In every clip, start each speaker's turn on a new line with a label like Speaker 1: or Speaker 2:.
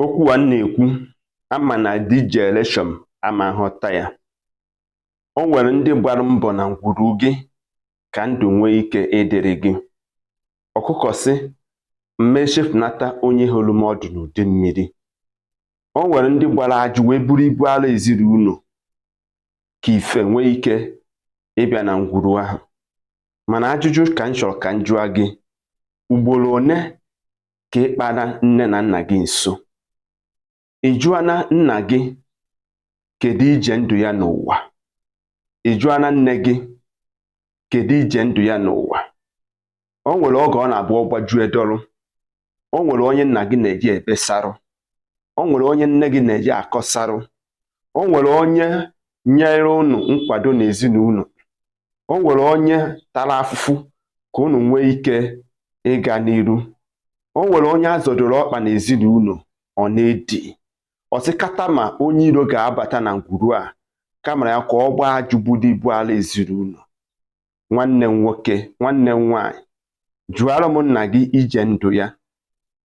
Speaker 1: okwu a na-ekwu ama na DJ Eleshom ama nghọta ya o nwere ndị gbara mbọ na ngwuru gị ka ndụ nwee ike ịdịrị gị ọkụkọ sị m echefunata onye horo m ọdụ n'udu mmiri o nwere ndị gbara ajụ wee buru ibu ala ezinụlọ ka ife nwee ike ịbịa na ngwuru ahụ mana ajụjụ ka m chọrọ ka m jụọ gị ugboro one ka ị kpara nne na nna gị nso ị jụọna nna gị kedu ije ndụ ya n'ụwa ị jụọna nne gị kedu ije ndụ ya n'ụwa o nwere oge ọ na-abụ ọgbajue dọrọ o nwere onye nna gị na-eje ebesarụ o nwere onye nne gị na-eje akọsarụ o nwere onye nyere unu nkwado n'ezinụlọ o nwere onye tara afụfụ ka unu nwee ike ịga n'iru o nwere onye a zọdoro ọkpa n'ezinụlọ ọ na-edi ọ sị kata ma onye iro ga-abata na ngwuru a kamara ya ka ọ gbaa ajụ buru ibu ala ezinụlọ nwanne m nwoke nwanne m nwaanyị jụọrọ m nna gị ije ndụ ya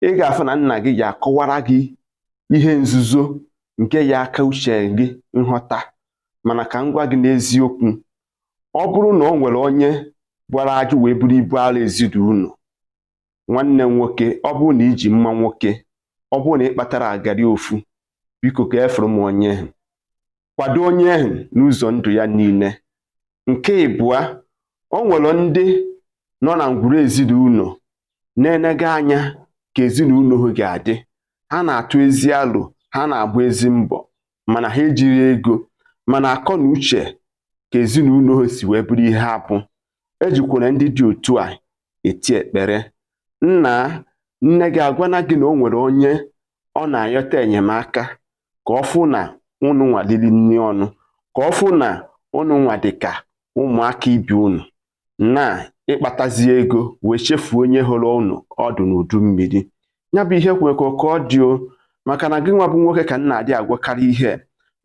Speaker 1: ị ga-afụ na nna gị ya akọwara gị ihe nzuzo nke ya aka uche gị nghọta mana ka m gwa gị n'eziokwu ọ bụrụ na o nwere onye gbara ajụ wee buru ibu ala ezinụlọ nwanne nwoke ọ bụrụ na i ji mma nwoke ọ bụrụ na ị kpatara agari ofu biko ka a fụrụ m onye ahụ kwado onye ahụ n'ụzọ ndụ ya niile nke ịbụa o nwere ndị nọ na ngwuru ezinụlọ na-enega anya ka ezinụlọ ha ga-adị ha na-atụ ezi alo ha na-agba ezi mbọ mana ha ejiro ego mana akọ na uche ka ezinụlọ ha si wee bụrụ ihe ha bụ ejikwala ndị dị otu a eti epele nna nne gị agwana gị na o nwere onye ọ na-ayọta enyemaka ka ọ fụ na unu nwa lili nri ọnụ ka ọ fụ na unu nwa dị ka ụmụaka ibe unu na ị kpatazi ego wee chefuo onye horo unu ọdụ n'udu mmiri ya bụ ihe kwere ka ọ dị o maka na gị nwa bụ nwoke ka nna adị agwakarị ihe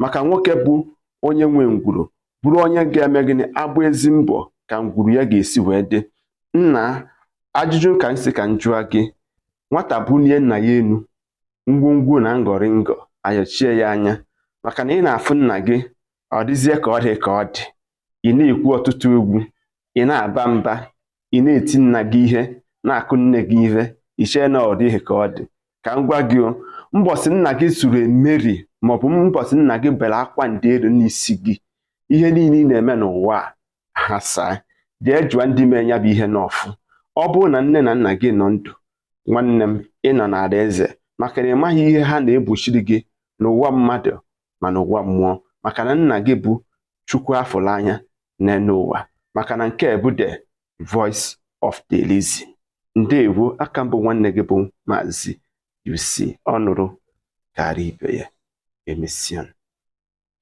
Speaker 1: maka nwoke bụ onye nwe ngwuru bụrụ onye ga-eme gịnị agba ezi mbọ ka ngwuru ya ga-esi wee dị nna ajụjụ ka m sị ka m jụọ gị nwata bulie nna ya enu ngwongwo na ngọrịngọ ayọchie ya anya maka na ị na-afụ nna gị ọ dịzie ka ọ dị ka ọ dị ị na-ekwu ọtụtụ egwu ị na-aba mba ị na-eti nna gị ihe na-akụ nne gị ihe i chee na ọ dịghị ka ọ dị ka m gwa gị o mbọsị nna gị suru emeri maọbụ mbọsị nna gị bere akwa ndị elu n'isi gị ihe niile ị na-eme n'ụwa aghasaa jee jụọ ndị mee ya bụ ihe n'ọfụ ọ bụrụ na nne na nna gị nọ ndụ nwanne m ị nọ n'alaeze maka na ị maghị ihe ha na-egbochiri gị n'ụwa mmadụ ma n'ụwa mmụọ maka na nna gị bụ chukwu a fụlụ anya n'elu ụwa maka na nke a bụ the voice of the Elizi ndewo aka m bụ nwanne gị bụ maazị UC ọ nụrụ kara ibe ya emesịanụ